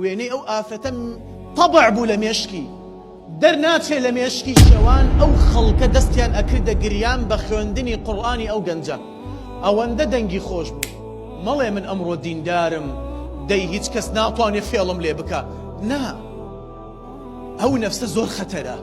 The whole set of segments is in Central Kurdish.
وێنەی ئەو ئافرەتە طبع بوو لە مێشکی دەرناچێ لە مێشکی شەوان ئەو خەڵکە دەستیان ئەکردە گریان بە خوێندنی قوڕانی ئەو گەنجە ئەوەندە دەنگی خۆش بوو مەڵێ من ئەمڕۆ دیندارم دەی هیچ کەس ناتوانێ فێڵم لێ بکە نا ئەو نەفسە زۆر خەتەرە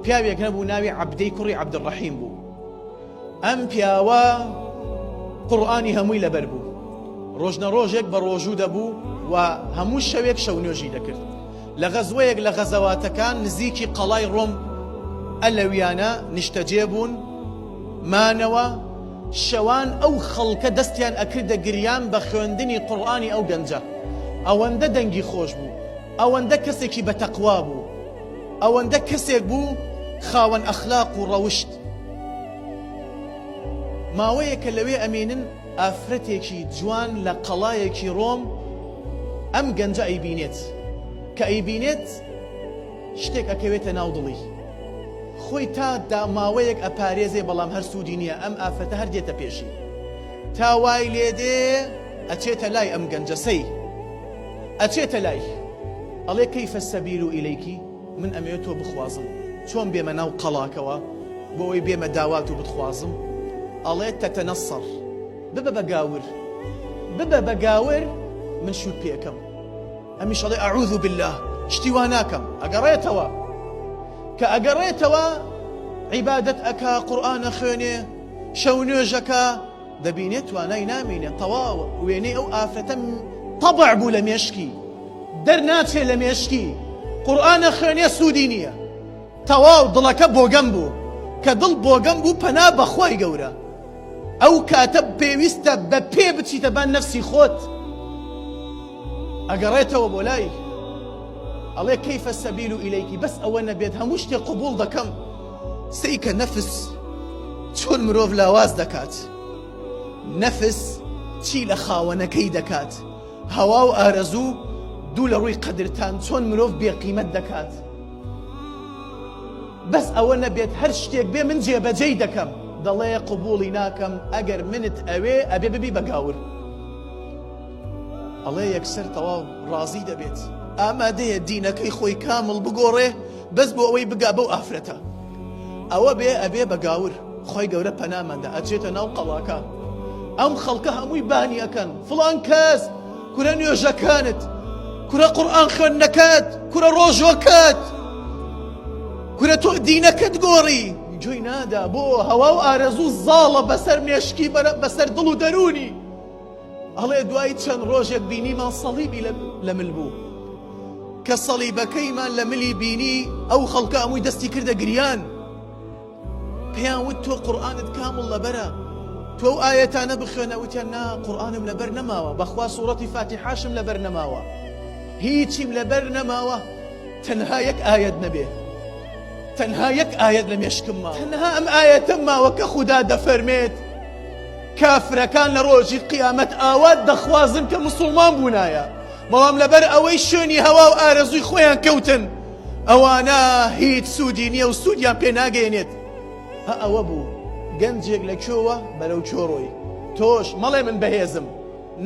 پیاوێک هەبوو ناوی عەبدەی کوڕی عەبدڕەحیم بوو ئەم پیاوە قوڕئانی هەمووی لەبەر بوو ڕۆژنە ڕۆژێک بە ڕۆژوو دەبوو و هەموو شەوێک شەو نوێژی دەکرد لە غەزوەیەک لە غەزەواتەکان نزیکی قەڵای ڕۆم ئەلەویانە نیشتەجێ بوون مانەوە شەوان ئەو خەڵکە دەستیان ئەکردە گریان بە خوێندنی قوڕانی ئەو گەنجە ئەوەندە دەنگی خۆش بوو ئەوەندە کەسێکی بەتەقوا بوو ئەوەندە کەسێک بوو خاوەن ئەخلاق و ڕەوشت ماوەیەکە لەوێ ئەمێنن، ئافرەتێکی جوان لە قەڵایەکی ڕۆم ئەم گەنجە ئەیبینێت، کە ئەیبینێت شتێک ئەکەوێتە ناو دڵی، خۆی تا دا ماوەیەک ئەپارێزێ بەڵام هەر سوودی نییە، ئەم ئافرەتە هەر دێتە پێشی، تا وای لێ دێ ئەچێتە لای ئەم گەنجە سەی ئەچێتە لای ئەڵێ کەیف السبیل الیک؟ من ئەمەوێ تۆ بخوازم چۆن بێمە ناو قەڵاکەوە بۆ ئەوەی بێمە داوات و بتخوازم ئەڵێ تەتەنەسەڕ ببە بە گاور ببە بە گاور من شوت پێکەم ئەمیش ئەڵێ ئەعوذ باللە شتی وا ناکەم ئەگەڕێتەوە کە ئەگەڕێتەوە عیبادەت ئەکا قورئان ئەخوێنێ شەو نوێژەکە دەبینێ توانای نامینێ تەواوە وێنەی ئەو ئافرەتە طبع بوو لە مێشکی دەرناچێ لە مێشکی قورئانە خوێنێ سوودی نییە تەواو دڵەکە بۆگەم بوو کە دڵ بۆگەم بوو پەنا بەخوای گەورە ئەو کاتە پێویستە بە پێ بچیتە بان نەفسی خۆت ئەگەڕێتەوە بۆ لای ئەڵێ کەیفە سەبیل و ئیلەیکی بەس ئەوە نەبێت هەموو شتێ قوبول دەکەم سەیکە نەفس چۆن مرۆڤ لاواز دەکات نەفس چی لە خاوەنەکەی دەکات هەوا و ئارەزوو دوو لە ڕووی قەدرتان چۆن مرۆڤ بێقیمەت دەکات بەس ئەوە نەبێت هەر شتێک بێ من جێبەجێی دەکەم دەڵێ قوبوڵی ناکەم ئەگەر منت ئەوێ ئەبێ ببی بەگاور ئەڵێ یەکسەر تەواو ڕازی دەبێت ئامادەیە دینەکەی خۆی کامل بگۆڕێ بەس بۆ ئەوەی بگا بەو ئافرەتە ئەوە بێ ئەبێ بە گاور خۆی گەورە پەناماندا ئەچێتە ناو قەڵاکان ئەم خەڵکە هەمووی بانی ئەەکەن فڵان کەس کورە نوێژەکانت کورە قڕان خوێن نەکات کورە ڕۆژۆکات کورە تۆ دینەکەت گۆڕی جوی نادا بۆ هەوا و ئارەزوو زاڵە بەسەر مێشکی بەسەر دڵ و دەرونی ئەڵێ دوای چەند ڕۆژێک بینیمان سەڵیبی لە مل بوو کە سەڵیبەکەیمان لە ملی بینی ئەو خەڵکە ئەمووی دەستی کردە گریان پێیان وت تۆ قورآانت کامڵ لەبەرە تۆ ئەو ئاەتانە بخوێنە وتیان نا قورآانم لەبەر نەماوە بەخوا سوورەتی فاتیحاشم لەبەر نەماوە هیچیم لەبەر نەماوە تەنها یەک ئاەت نەبێ تەنها یەک ئاەت لە مێشکم ما تەنها ئەم ئاەتەم ماوە کە خوددا دەفەرمێت کافرەکان لە ڕۆژی قیامەت ئاوات دەخوازن کە مسوڵمان بوونایە بەڵام لەبەر ئەوەی شوێنی هەوا و ئارەزووی خۆیان کەوتن ئەوانە هیچ سوودی نییە و سوودیان پێ ناگەێنێت ئەوە بوو گەنجێک لە کێوە بەرەو کۆڕۆی تۆش مەڵێ من بەهێزم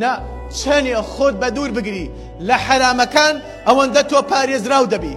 نا چەنێ خۆت بە دوور بگری لە حەرامەکان ئەوەندە تۆ پارێزراو دەبی